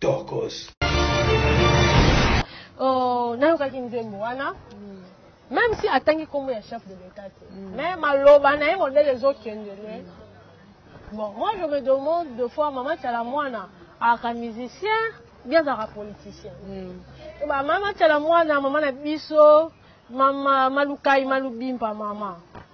tokos oh, nayokaki nzembo wana même si atangi nkombo ya chef de l'état te mm. mais maloba na ye modele ezokendele mm. bon moi je me demande de fois mama cala mwana aka musicien bien azalaka politicien mm. ba mama cala mwana mama na biso mama malukai malubimpa mama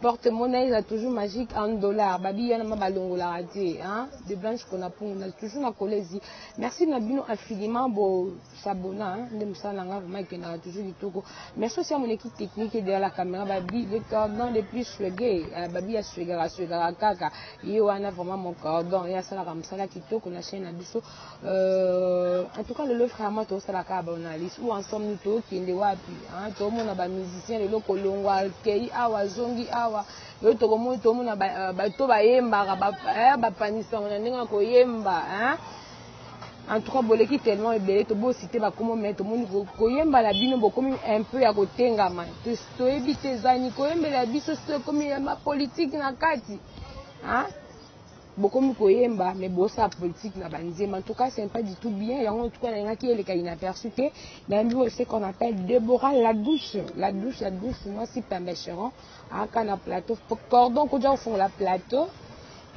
Porte monnaie eza toujours magique en dollars babi wana ma balongolaka te hein de blanche kona pungu na toujours na kolezi merci na bino infiniment bo s'abonna hein nde musala na nga vraiment ekendaka toujours kitoko merci aussi à mon équipe technique et derrière la caméra babi le cordon le plus swege euh, babi ya swegaka swegaka kaka ye wana vraiment mon cordon ye asalaka musala kitoko na chaîne na biso Euh, en tout cas lelo vraiment tosala kaka baanalyse ou ensemble nous tokende wapi tomona bamusicien lelo kolongwa kei awa azongi awa lelo tokomoni tomona euh, bato bayembaka bapanisaka na ndenge ya koyemba en tout cas boleki tellement ebele tobosite bakomo mai tomoni koyemba na bino bokomi un peu ya kotengama toyebi te ezani koyembela biso soki ekomi ya bapolitike na kati bokomi koyemba mais bosala politique na banzemba en tout cas c'est pas du tout bien yango en tout cas nalingaki eleka inaperçu te nayambi oyo ce qu'on appelle Deborah la douce la douce la douce mwasi pembe cheron aka na plateau cordon koja kofungola plateau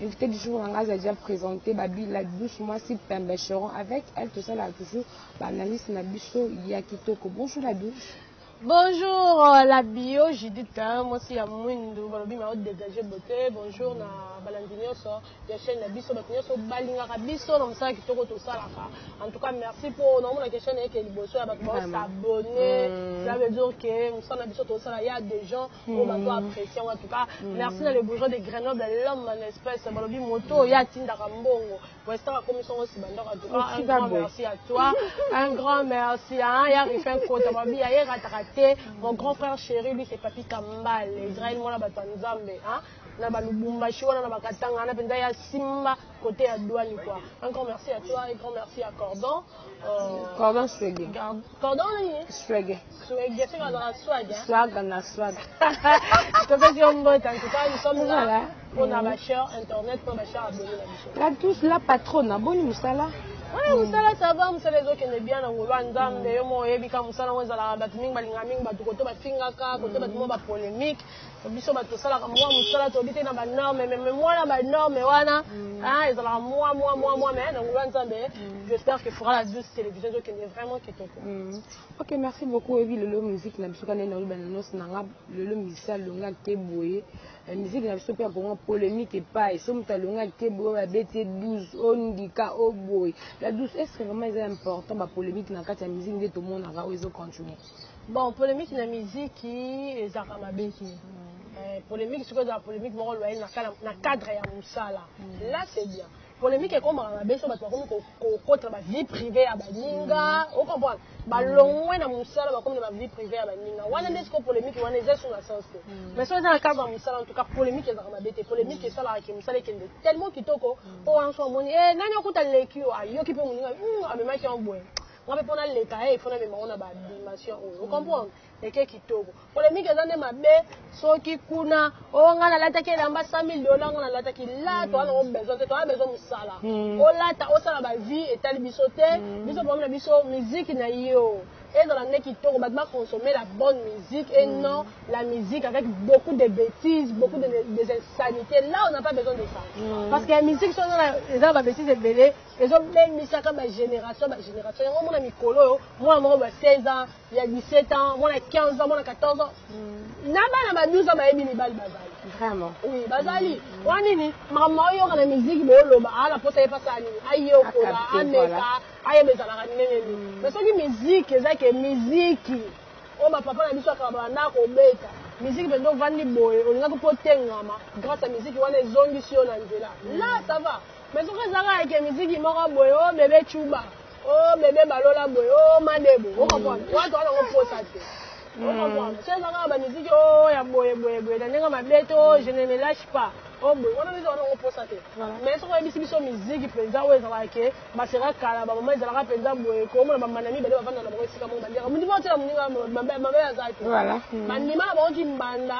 invité du jour na ngai aza déjà présenté babi la douce mwasi pembe cheron avec elle tosalaka toujours baanalyse na biso ya kitoko bonjour la douce Bonjour euh, la bio Judith hein, mwasi ya mwindu balobi ma haute dégagé beauté bonjour na balandi nyonso ya chaîne na biso bato nyonso balingaka biso na mosala kitoko tosalaka en tout cas merci mpo naomonaka chaîne eke liboso ya bato baosabonne mm. ça veut dire que mosala na biso tosala ya des gens mm. oyo bato apprécie en tout cas mm. merci na le bourgeois de Grenoble l'homme en espèce balobi moto oyo atindaka mbongo Weston akomisi yango nsima ndako en tout cas un grand merci à toi un grand merci hein ya Rifin Kota babi ya rataka te mon grand frère chéri lui c'est Papi Kambal Israël mwana bato ya Nzambe hein na ba Lubumbashi wana na bakatanga wana mpenza ya simba kote ya douane quoi un grand merci à toi et grand merci à Cordon euh, Cordon Sege Pardon nini? Swege. Swege, soki azalaka swag hein? Swag na swag. Topesi yo mbote en tout cas nous sommes là pour na ba chers internet pour ba chers abonné na biso. La tous la patronne, aboni musala. Ouais, musala ça va, musala ezokende bien na ngolo nzambe yo mo oyebi ka musala ngo ezalaka bato mingi balingaka mingi bato koto bafingaka koto bato mo ba polemique biso bato tosalaka mwa mosala toyebi te na banorme me mwana banorme wana mm. ah, ezalaka mwa mwa mwa mwa me na ngulu ya nzambe mm. j'espère que fora la zeus télévision ezokende vraiment kitoko mm. ok merci beaucoup oyebi lelo musique na biso kanene oloba na nosi na nga lelo musicien alonga te boye eh, musique na biso mpe yankongo polémique epai so moto alonga te boye oyo abeti 12 ondika oboye la 12 est ce que vraiment eza important bapolémique na kati ya musique nde tomonaka oyo ezocontinue Bon polemique na miziki ezalaka mabe te. Eh, polemique sikoyo ezala polemique moko loye na, na cadre ya mosala mm. là c'est bien polemique ekomaka mabe so bato bakomi kokotela bavie privé ya baninga mm. ocomprendre balongwe na mosala bakomi na bavie privé ya baninga wana nde sikoyo polemique wana eza sur na sens te mm. mais so eza na cadre ya mosala en tout cas polemique ezalaka mabe te polemique esalaka ke mosala ekende tellement kitoko mpo wana so amoni eh, nani okuta leki yo ayoki mpe moninga amemaki yango boye Nga pe pona leka he il faut na mema ngo na ba dimension oyo o comprendre eke kitoko polemique eza nde mabe soki kuna o nga na lataki elamba 100000 dollars nga na lataki la to ana ngo besoin te to ana besoin musala hmm. o lata o sala ba vie etali biso te hmm. biso problème na biso musique na yo ezala nde kitoko bato baconsommer la bonne musique et mm. non la musique avec beaucoup de bêtises beaucoup de, des insanités là on n'a pas besoin de ça mm. parce que ya musique so eza na babêtise ebele ezo bemisaka ba generation ba generation yango mona mikolo oyo mwana moko ba 16 ans ya 17 ans mwana 15 ans mwana 14 ans mm. na bana ba 12 ans bayebi mibali bazali vraiment oui bazali mm. wana nini mama oyoka na miziki boyoloba ala mposa ye mpasa ya nini ayekola ameka ayeba ezalaka ndenge nini mm. mais soki miziki eza ke miziki oyo bapapa na biso akaba banda kobeta miziki mpenza ovandi boye olingaki mpo otengama grâce ya miziki wana ezongisi yo na nzela la ça va Mais soki eza kaka ke miziki moko boye o oh, bebe chuba o oh, bebe balola boye o oh, madebo o comprendre wana toza nango posa te o mm. comprendre soki eza kaka bamiziki o ya boye boye boye na ndenge mabe to je ne me lâche pas o boye wana biso wana yango mposa te mais soki oyebisi biso miziki mpenza oyo ezalaka ke baseka kala bamama ezalaka mpenza boye komona bamana mibale bavanda na bango esika moko bandiaka mondima otyela moninga mabe aza te bandima na bango kimbanda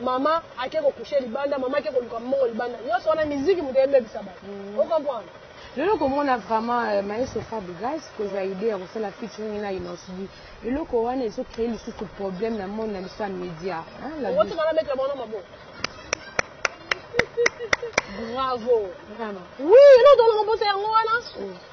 mama ake ko coucher libanda mama ake koluka mbongo libanda nionso wana miziki moto ebebisa bato mm. o comprendre lelo komona vraiment euh, maestro fabrigas kozwa idée ya kosala featuring na inosbi eloko wana ezo créer lisusu problème na monde na biso ya média bravo oui eloko tolongo mposa yango wana oh.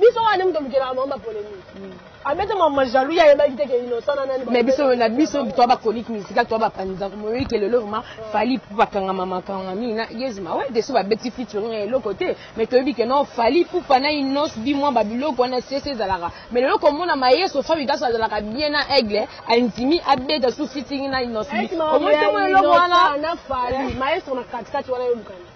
biso wana moto olukelaka bango bapolemike hmm. abeta ah, mama jaloux ye ayebaki te ke innocent na nani mais biso na biso toa baconique musicale toa bapanzaka moyoki ke lelo vraimen fali mpo bakangama makanga mingi na yezma we deso babeti featuring ya eloko te mais toyebi ke non fali pupa na inos bimwa babiloko wana sese ezalaka mais lelo komona mayeso fabi daso azalaka bien na aigle andimi abeta su featuring na inos omoi tomona eloko wana maestro na katikati wana yolukani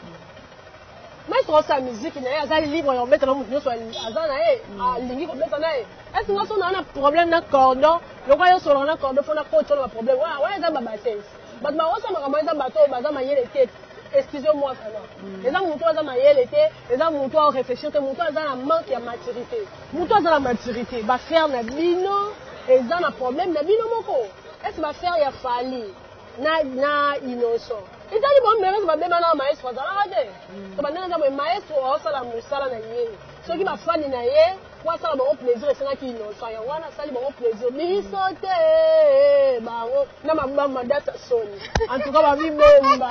maître osi ya miziki na ye aza libre ya kobeta na moto nyonso aza na ye mm. alingi ah, kobeta na ye esi nga so naa na problème na cordon lokola yo solaka na cordon mpo na coach wana baproblème wana wana eza babatese bato baosa makambo eza bato oyo baza mayele te excuse moi sana mm. eza moto aza mayele te eza moto ao réfléchir te moto aza na manque ya maturité moto aza na maturité bafrère na bino eza na problème na bino moko esi bafrère ya fali na na innocent etali bango merese babema na maestro azalaka te to bandenge eza boye maestro aosala mosala na ye soki bafani na ye po asala bango plaisir esengaki innocent yango wana asali bango plaisir biso te bango na mabamu madasa soni en tout cas babibomba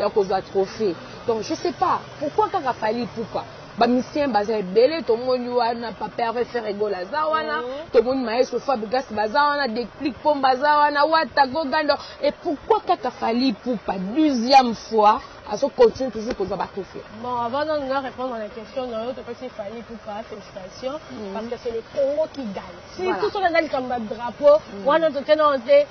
ya kozwa trophee donc je sais pas pourquoi kaka fali ipupa bamisien baza ebele tomoni wana papa herve feregol aza wana mhm. tomoni maestro fabrigas baza wana declic pom baza wana wata gogando et pourquoi kaka fali ipupa deuxième fois azo continue toujours kozwa bakufi bon avant nanu nga répondre à la question na yo topesi fali pupa félicitation mhm. parce que c'est le congo qui gagne surtout soki aza likambo ya drapeau mhm. wana tokenda te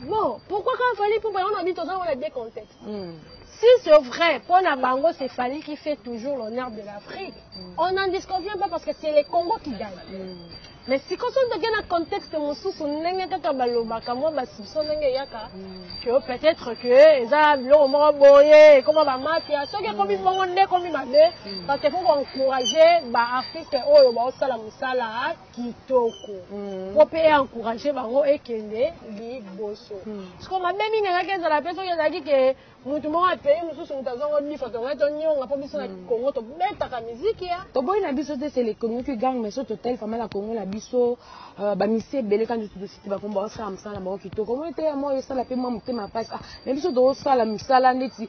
Bon, pourquoi quand Fally Ipupa, on a dit aux on a des contextes. Mm. Si c'est vrai, pour Nabango, c'est Fally qui fait toujours l'honneur de l'Afrique. Mm. On n'en disconvient pas parce que c'est les Congo qui gagnent. Mm. Mais si quand on a un contexte, on a kaka balobaka mwa basibso ndenge eyaka mm. que peut-être que eza biloko moko boye ekoma bamafia soki ekomi mm. bongo nde ekomi mabe mm. parce que faut encourager baartiste oyo baosala mosala kitoko mm. po mpe encourage bango ekende liboso mm. siko mabe mingi engaki ezala mpe soki ezalaki ke motu moko ya pays mosusu moto azwa ngo nifa tongai tonyonga mpo biso na mm. congo tobetaka miziki ya toboyi na biso te sele congo ki gang mais so total fama na congo na biso euh, bamisi ebele kandi tositi bakongo bakosala mosala na bango kitoko omoni te ya moko esala mpe mwa motema mpasi ah, na biso tokosala misala ndeti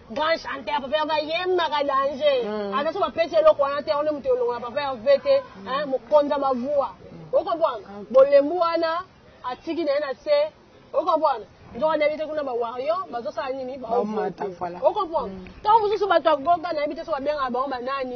Grand chanteur papa Herve ayembaka danger. Hmm. Ata so bapesi eloko wana te, wana moto elongola papa Herve te, hein, mokonza ba voix. Okomprendre? Ah, Bolembu wana atiki na ye na se. Okomprendre? nzoka nayebi te kuna bawario bazosala nini baomata voilà okomprendre ntango mosusu bato ya goga nayebi te so babengaka bango banani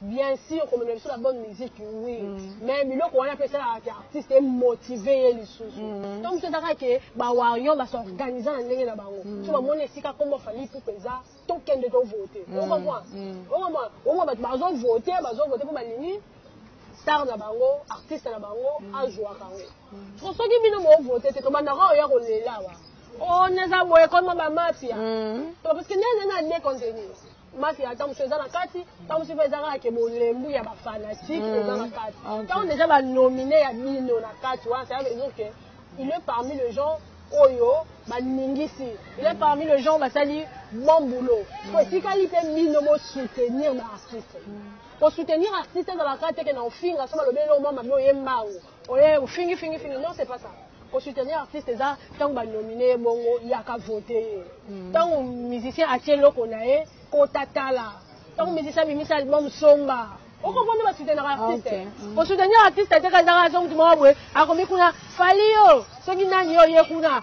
Bien sur komemela biso la bonne musique oui mais biloko wana pe esalaka ke artiste emotive ye lisusu to mosusu eza kaka ke ba warrion ba s'organise na ndenge na bango so bamoni esika kombo ya Fally Ipupa eza tokende to vote o comprendre o comprendre omona bato bazo vote bazo vote po balingi star na bango artiste na bango azuaka yango po soki bino bo vote te tobandaka oya kolela awa o naza boye ekoma ba mafia to parce que nani nani adekontenir mafia ya tamusu eza na kati tamusu mpe eza kaka ke bolembu ya bafanatike mm. eza na kati ntango deja banomine ya bino na kati wana ça veut dire que il est parmi le gens oyo baningisi il est parmi le gens basali bon boulot mm. po etikali mpe bino bosoutenir baartiste mm. kosoutenir artiste ezalaka te ke na ofinga so balobeli no mwa mabe oyembango Oye ofingi fingi fingi non c'est pas ça ko soutenir artiste eza tango ba nominer ye bongo yaka voter ye hmm. tango musicien atie loko na ye kota tala tango musicien abimisa album somba okomona ba soutenir ah, artiste ko hmm. soutenir artiste te kazaka azo mutu moko boye akomi kuna fali yo soki nani yo ye kuna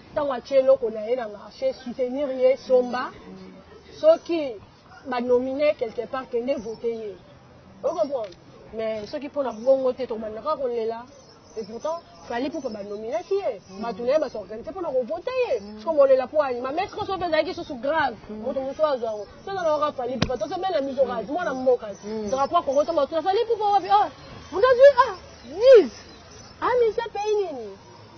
tango atie eloko naye na marche soutenir ye somba soki ba nomine quelque part kende vote ye o comprendre mais soki pona bongo te tokobanda kaka kolela et pourtant fali poupa banominaki ye bato na ye basorganise mpona kovote ye siko bolela mpo ani mamestre oso mpe ezalaki susu grave moto mosusu azwa yango seza naoka fali poupa toso mpe na miso kasi mwana mboka drapo ya kongo toma tuna fali poupa wapi o mutazwi a 10 amisa pays nini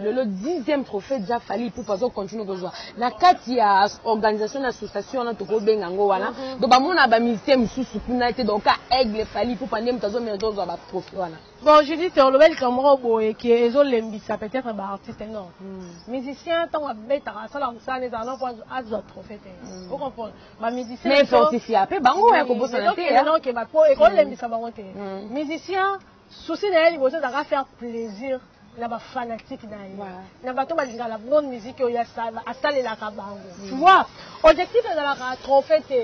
lelo dixième trophée ja fali ipupa azo continue kozwa na kati ya organisation na association wana tokobenga yango wana mhm. donc bamona bamusicien mosusu kuna te donc ka aigle fali ipupa nde moto azomela tozwa batrophée wana bon judith olobeli likambo moko boye ke ezolembisa peut-être baartiste non hmm. musicien ntango abetaka asalaka mosala nde ezala noko azwa trophée te hmm. ocomprendre bamusicienmaifortifia mpe bango ya kobosana te ekoki kolembisa bango te hmm. musicien Souci na ye liboso ezalaka faire plaisir na ba fanatique na ye na bato balingaka la bonne musique oyo asalelaka bango tu vois objectif ezalaka trophée te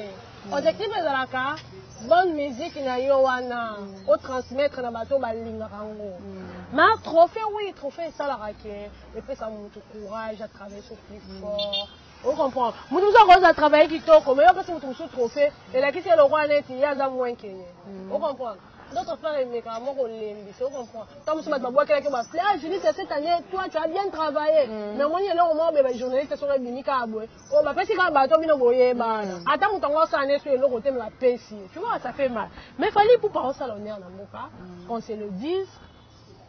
objectif ezalaka bonne musique na yo wana o transmettre na bato balingaka yango ma trophée oui trophée esalaka ke epesa motu courage a travailler sur plus fort o comprendre motu mosusu akoki aza travailler kitoko mais yo opesi motu mosusu trophée elakisi eloko wana ete ye aza moins ke ye o comprendre D'autre part, emekaka mwa kolembisa, o comprend. Ntango mosusu bato babwakelaki yo baple, ah Judith, cette année, toi, tu as bien travaillé. Mm. Mais omoni eloko moko boye bajournaliste soko ebimi kaka boye, oyo bapesi kaka bato bino boyebana. Mm. Ata moto yango asala nde so eloko te, me bapesi ye. Tu vois, ça fait mal. Mais fallait ipupa osala honneur na mboka, mm. qu'on se le dise.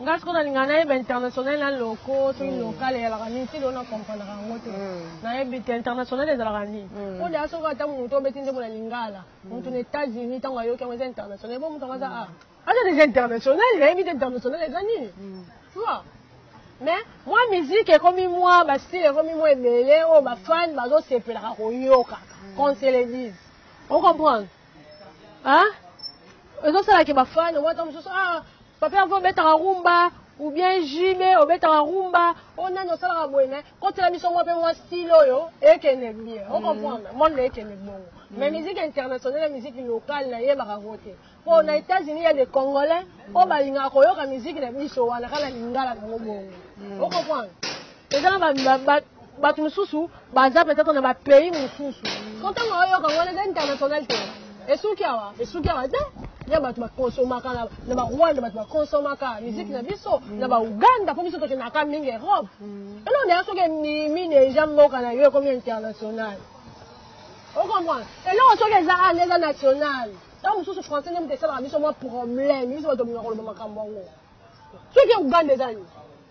Nga sikoyo nalinga nayeba international na loko soki hmm. local eyalaka nini ti lelo na comprenaka yango te hmm. nayebi te international ezalaka nini hmm. po deya soki ata moto obeti nzembo na lingala moto na états-unis ntango ayoki yango eza international bo moto yango aza a aza deja international nayebi te international eza nini tua mais mwa miziki ekomi mwa bastile ekomi mwa ebele oyo bafane bazosepelaka koyokaka qu'on se le dise ocomprendre ah ezosala ke bafane wata mosusu ah papa yango obetaka rumba ou bien jb obetaka rumba oyo nani osalaka boye na kotela biso mwa mpe mwa style oyo ekende bien ocomprendre mm. monde ekende bongo mm. mais musique internationale ya musique locale nayebaka ngo te mpo na mm. états-unis ya des congolais oyo balingaka koyoka musique na biso wana kaka na lingala nango bongo ocomprendre eza na ba- ba- ba- bato mosusu baza mpenza to na bapays mosusu ko ntango oyoka ngo eza international te esuki awa esuki awa te ya bato bakonsomaka na- na barwanda bato bakonsomaka miziki na biso na bauganda mpo biso tokendaka mingi europe eloko deya soki emimi deja mboka na yo ekomi international okomprendre eloko soki eza ana eza national ntango mosusu français nde moto esalaka biso mwa problème biso bato tobima koloba makambo yango soki uganda eza nini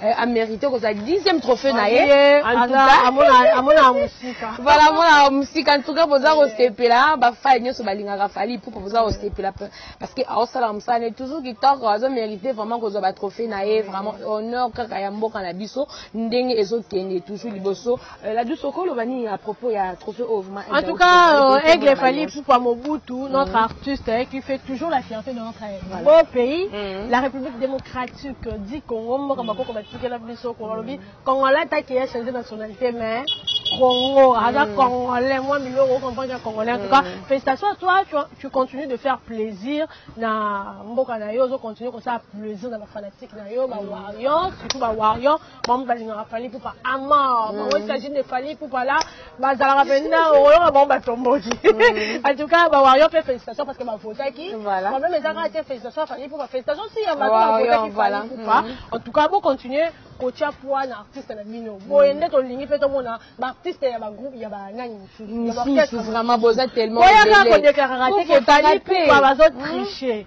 Eh, a mérité kozala dixième trophée na ye amonaka mosika voilà amonaka mosika en tout cas boza kosepela bafai nyonso balingaka fali pupa boza kosepela parce que aosalaka mosala ne toujours kitoko azo mérité vraiment kozwa batrophée na ye vraiment honneur kaka ya mboka na biso ndenge ezokende toujours liboso Euh, la douce okolo bani à propos il y a trophée au vraiment en tout cas euh, aigle Fally Poupa Mobutu mm. notre artiste hein, qui fait toujours la fierté de notre voilà. beau pays mm. la République démocratique du Congo mboka mm. bakoko batikela biso ko balobi congolais ta qui a changé nationalité mais Congo, aza mm. congolais, moi milieu au comprendre que congolais. En tout cas, mm. félicitations à toi, tu, tu continues de faire plaisir na mboka na yo, continue comme ça plaisir na ba fanatiques na yo, ba mm. warriors, surtout ba warriors. bango balingaka fali pupa amor bango il s'agit de fali pupa la bazalaka mpenza okoyoka bango batomboki en tout cas bawario mpe félicitation parce que bavotaki problème eza kaka te félicitation fali pupa félicitation si ya bato bavotaki fali pupa en tout cas bocontinue kotia poids na artiste na bino boye nde tolingi mpe tomona baartiste ya bagroupe ya banani mosusu vraiment boza tellement boyaka kodeklaraka te ke fali pupa bazotriche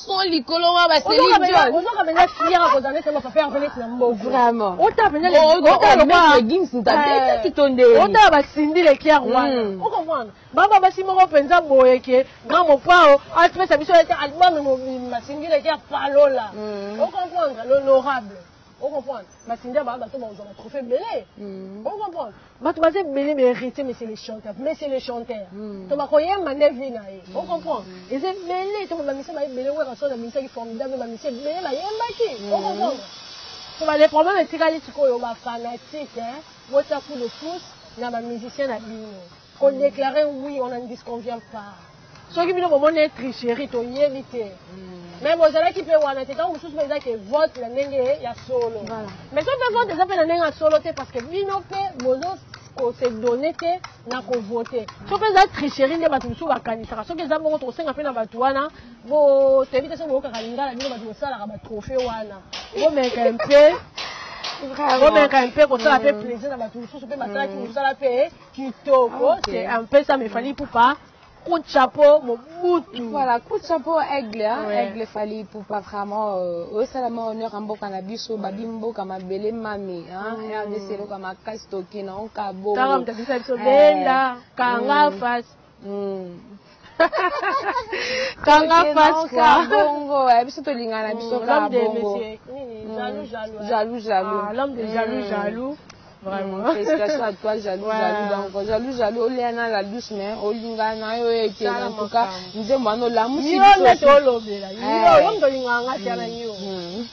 trop likolo wana ba Celine Dion ozoka mpenza fière kozala ndeti na bapapa yango ndeti na mboka vraiment otala mpenza legims ntabetaki to nde otala basindi lekiare wana okomwana baba basi moko mpenza boye ke grand mopao apesa biso ete album mobimba sindi lekiare palola okomprendre l'honorable O comprendre? Matinda ba bato bakozwa ba trophee ebele. O comprendre? Bato baza ebele mais Heritier mais c'est le chanteur, mais c'est le chanteur. To bakoyemba nde vie na ye. O comprendre? Eza ebele to ba musiciens ba ebele Werrason abimisaki formidable ba musiciens ebele bayembaki. O comprendre? To ba le problème etikali sikoyo ba fanatiques hein, botia coup de pouce na ba musiciens na bino. Ko declarer oui on n'en disconvient pas. Soki bino bomoni tricherie toyebi te. Mm. mais bozalaki mpe wana te ntango mosusu mpe eza ke vote na ndenge ya solo mais soki mpe vote eza mpe na ndenge ya solo te parce que bino mpe bozo kose donne te na kovote soki mpe eza tricherie nde bato mosusu bakanisaka soki eza bongo tokosenga mpe na bato wana botoyebi te soki boyokaka lingala bino bato bosalaka batrohe wana bomeka mpe bomeka mpe kosala mpe plaisir na bato mosusu mpe basalaki mosala mpe Kitoko, okay. c'est un peu ça, mais Fally Poupa, coup de chapeau, mon bout. Voilà, coup de chapeau, aigle, hein, ouais. aigle Fally Poupa, vraiment, euh, au salama, honneur, en boka na biso, babi mboka, ma belle mami, hein, mm. RDC, loka, ma kastoki, na onka, bo. Taram, t'as dit ça, biso, benda, kanga, face. kanga face quoi bongo eh, biso tolingana mm, biso kaka bongo mm. jaloux jaloux ah, l'homme de jaloux mm. jaloux Vraiment. Félicitations à toi, jaloux, ouais. jaloux. Donc, jaloux, jaloux, olengana la douce, mais olingana yo ete na en tout cas, nzembo ano lamusi. Yo nde tolobela. Yo yo ndolinganga tiana yo.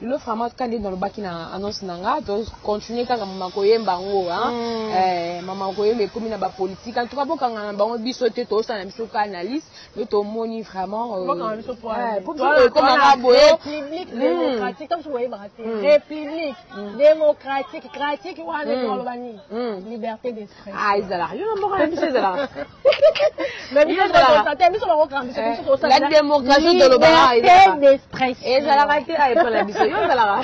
Lelo vraiment kaka ndenge nalobaki na annonce na nga to continuer kaka mama koyemba yango hein mm. eh, mama koyemba ekomi na bapolitique en tout cas bokanga na bango biso te tozosala na biso ka analyse mais tomoni vraiment euh, ekomaka eh, boye république mm. démocratique ntango soki oyebaka te mm. république démocratique cratique wana ezaloba nini liberté d'esprit ah ezalaka yo na mboka na biso ezalaka la démocratie tolobaka ezalaka te a epai na biso yo ozalaka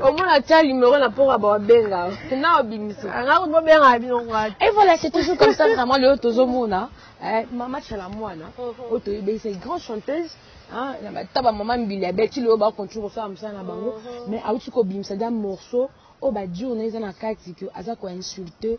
omona tia numero na mpoka babenga na obimisa bobengaka bino et voilà c'est toujours comme ça vraiment lelo tozomona mama chala mwana oyo toyebisa grande chanteuse ata bamama mbili ya beti lelo bakontinue kosala mosala na bango mais auti kobimisa da morceau oyo bajour na eza na kati ke aza koinsulte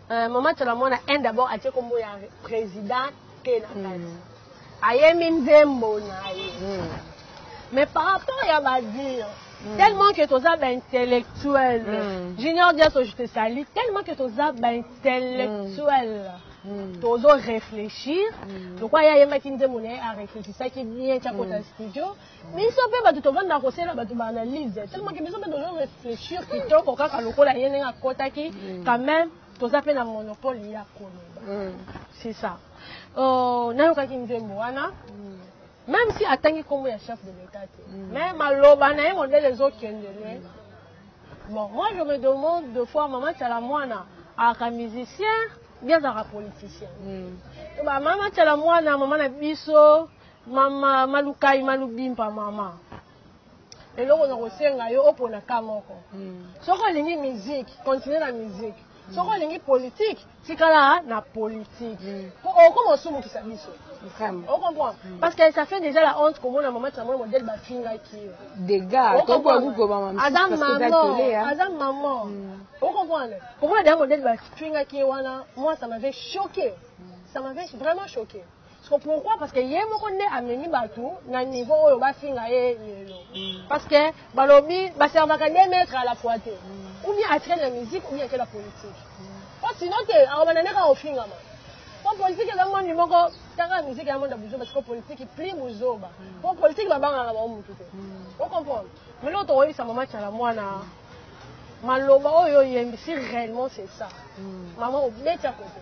Euh, mama tola mwana un d'abord atie kombo ya président te na kati hmm. ayemi nzembo na ye hmm. mais par rapport ya badire hmm. tellement que toza baintellectuel junior diaso je te sali tellement que toza baintellectuel tozo réfléchir lokola ye ayembaki nzembo na ye aréfléchisaki bien tiakota studio biso mpe bato tovandaka kosalela bato ba analyse tellement ke biso mpe tozo réfléchir kitoko kaka lokola ye ndenge akotaki mm. quand même toza mpe na monopole ya koloba mm. c'est ça oh, nayokaki nzembo wana mm. même si atangi nkombo ya chef de l'état te mais maloba na ye modele ezokende lwe bon moi je me demande de fois mama tiala mwana aka musicien bien azalaka politicien bamama tiala mwana mama na biso mama malukai malubimpa mama eloko na kosenga yo opona ka moko hmm. soki olingi musique continue na musique hmm. soki olingi politike tikala na politike hmm. po okoma osumukisa biso ocomprend parce que ça fait déjà la honte komona mama tsamona modele bafingaki yo degazaza mama ocomprendre komona deja modele bafingaki ye wana moi ça m'avait choqué ça m'avait vraiment choqué Siko pourquoi parce que ye moko nde amemi bato na niveau oyo bafinga ye lelo mm. parce que balobi baservaka de maître à la fois te mm. ou bien atikali na musique ou bien akela politique mm. po sinon te akobanda nde kaka ofingama po politiki eza mondi moko tanga miziki ya mondi ya buzoba siko politiki pli buzoba po politiki babangaka bango motu te ocomprendre mais loko tokoyebisa mama cala mwana maloba oyo oyembisi réellement c'est ça mama obeti ya kote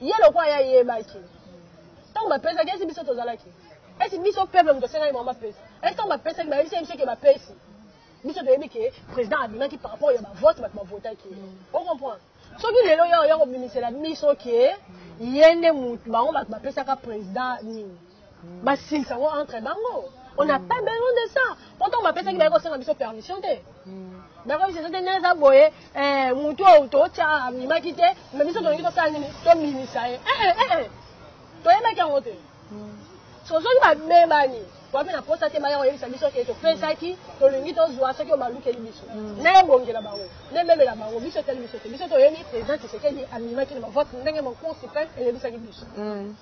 Ye lokola ye ayebaki ntango bapesaki, esi biso tozalaki, esi biso peuple moto asengaki bango bapesa, esi ntango bapesaki bayebisaki biso ke bapesi, biso toyebi ke president abimaki par rapport ya bavote bato bavotaki ye. O comprendre? Soki lelo yo oya kobimisela biso ke ye nde moto bango bato bapesaka president nini? basilisa ngo entre bango on n'a pas besoin de ça pourtant bapesaki baye kosenga biso permission te bakoyebisa biso te ndenge eza boye motu oyo totya amimaki te me biso tolingi tosala nini tomimisa ye toyebaki yango te so soki babebani wapi na posa te baya koyebisa biso ke topesaki tolingi tozwa soki oyo balukeli biso nayebongela bango nememela bango biso etali biso te biso toyebi président tisekedi amimaki na bavote ndenge mon cour suprême eyebisaki biso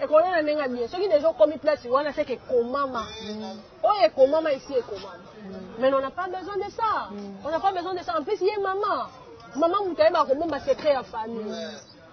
Ekolala ndenge ya bien. Soki deja okomi place wana c'est que ekomama. Oyo ekomama esi ekomama. Mais on n'a pas besoin de ça. On n'a pas besoin de ça. En plus ye maman. Maman mutu ayeba kobomba secret ya famille.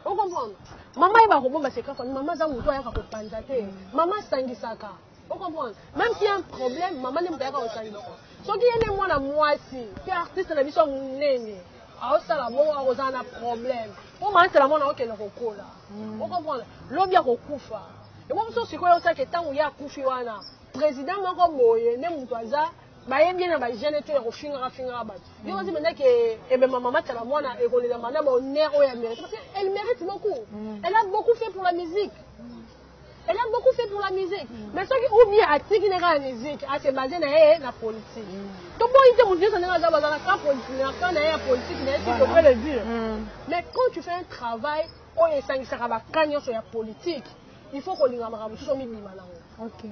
Okomprendre? Maman ayeba kobomba secret ya famille. Maman aza mutu ayaka kopanza te. Maman asangisaka. ocomprendre meme si un problème mama nde moto ayaka kosangisa soki ye nde mwana mwasi mpe artiste na biso ya monene aosala bongo akozala na problème mpo mansela mwana okende kokola mm. ocomprendre lobi akokufa yango mosusu sikoyo osaki ntango ye akufi wana président moko boye nde moto aza bayebi ye na bagene to ya kofingaka fingaka bato yo ozi mpenza ke ebemba mama tala mwana ekolelama na bonheur oyo ya mérite parce que elle mérite beaucoup mm. elle a beaucoup fait pour la musique Elle a beaucoup fait pour la musique. Mm. Mais ce qui ou bien atiki na la musique, a se basé na eh, la politique. Mm. To boyi te mutu na za bazala ka politique, na ka na ya politique, mais si tu peux le dire. Mm. Mais quand tu fais un travail, on est sangisaka ba kanyo sur la politique. Il faut qu'on linga makambo so mi bima na. OK.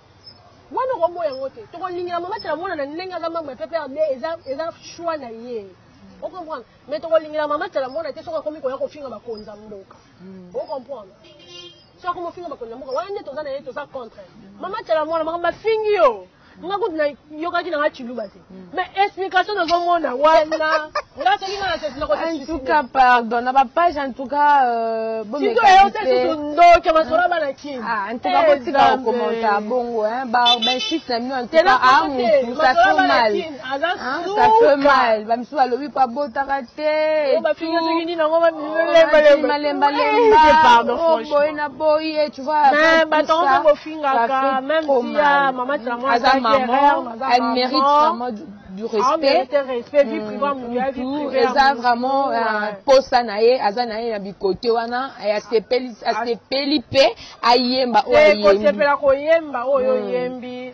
Wana okoboya yango te. Tokolingela mama tela mwana na ndenge aza membre ya PPRD eza eza choix na ye. O comprendre? Mais tokolingela mama tela mwana te soki akomi koya kofinga bakonzi ya mboka. Mm. O comprendre? Soki akomi kofinga bakonzi ya mboka wana nde toza na ye toza contre. Mama tela mwana makambo bafingi yo. Nga kutu na yokaki na nga chiluba te. mais explication nazomona wana nga soki nga nakoentuka pardon na bapage entouka euh, bomekasusu ndoki masolo bana kin entouka ah, eh, botika kokomenta bongo babenchis na bino entouka a ah, mutu ça fait mal ah, ça fait mal bamisusu balobi po abotaka te malembalemba boye na boye tu vois Kaka, même si ya maman Tchamo aza maman, elle mérite vraiment du, du respect. respect vie privée mm, muya vie privée. Eza vraiment euh, posa na ye, aza na ye na bikote wana, asepeli asepeli pe ayemba oyo ayembi. Ko sepela ko yemba oyo mm. yembi.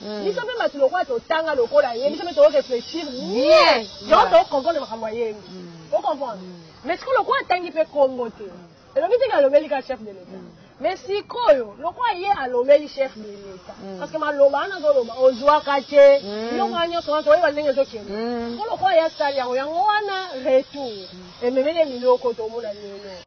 Hmm. biso mpe bato lokola totanga lokola ye biso mpe toreflechir bien yango tocomprendre makambo ya yenge hmm. ocomprendre hmm. mais sikoyo lokola atangi mpe congo te elongi teke alobeli ka chef de l'etat mais sikoyo lokola ye alobeli chef de l'etat parce que maloba wana azoloba ozwaka te biloko wana nyonso wana toyeba ndenge ezokende ko lokola ye asali yango yango wana retour ememeli ye biloko tomona lelo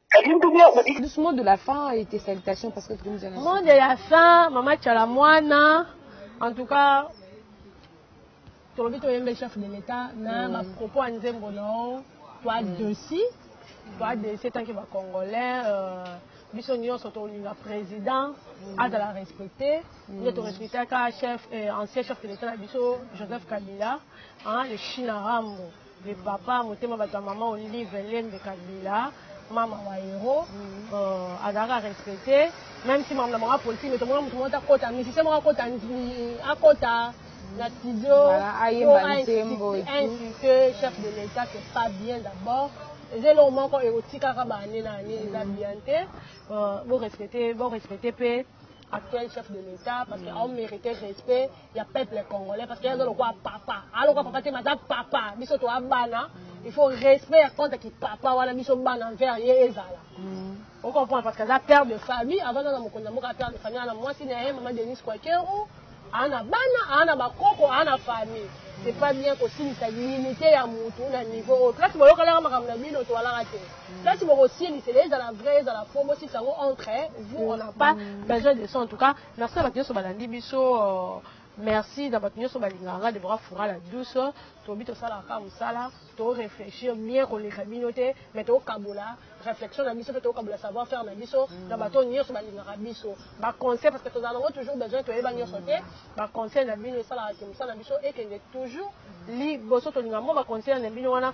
Plus mot de la fin et tes salutations parce que Dreams Generation. Mot de la fin, Mama Chalamwana. En tout cas, tolobi toyembe chef de l'État na mm. ba propos ya nzembo na yo toi mm. desi toi desi etanke ba congolais euh, biso nyonso tolinga président mm. azala respecté nde mm. torespectaka chef euh, ancien chef de l'État na biso Joseph Kabila hein, le China Rambo de papa motema bato ya maman olive lembe kabila mama wa hero euh, azalaka respecte même si makambo na bango apolitike mais tomona moto moko akota musicien moko akota akota na studio insulte chef de l'état c'est pas bien d'abord eza eloko moko ekotikaka baane na ane eza bien te euh, borespecte borespecte mpe actuel chef de l'état parce que aomérite respect ya peuple congolais parce que aza lokola papa aza lokola papa te mais aza papa biso toa bana il faut respect ya compte ki papa wana biso bana envers ye ezala mm. on comprend parce que aza père de famille avant aza na mokonzi ya mboka père de famille ana mwasi na ye mama denise kwakero ana bana ana bakoko ana famille c'est pas bien kosilisa limite ya motu na niveau oyo place boyokalaka makambo na bino toalaka te place bokosilisela ezala vrai ezala fo bosilisa yango entre vous on n'a pas besoin de ça en tout cas Merci na batu nionso balandi biso merci na batu nionso balingaka nga Deborah Fura la douce tolobi tosalaka kaka musala to reflechir bien koleka bino te mais tokabola reflexion na biso pe tokabola savoir faire na biso na batu oyo nionso balingaka biso ba conseil parce que tozala nango toujours besoin toyeba nionso te ba conseil na bino esalaka ke musala na biso ekende toujours liboso tolinga mwa ba conseil na bino wana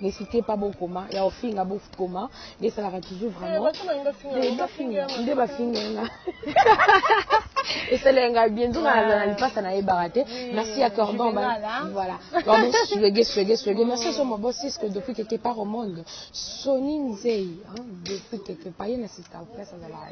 N'hesitez pas bo koma ya ofinga bo koma nde salaka toujours vraiment eh, bafinga nde bafinga nga esala nga bien nzonga na zala lipasa na yebaka te merci ya cordon ba voilà cordon swege swege swege merci so mo boss Cisco depuis quelque part au monde Sony Nzei hein depuis quelque part ye na sister place azala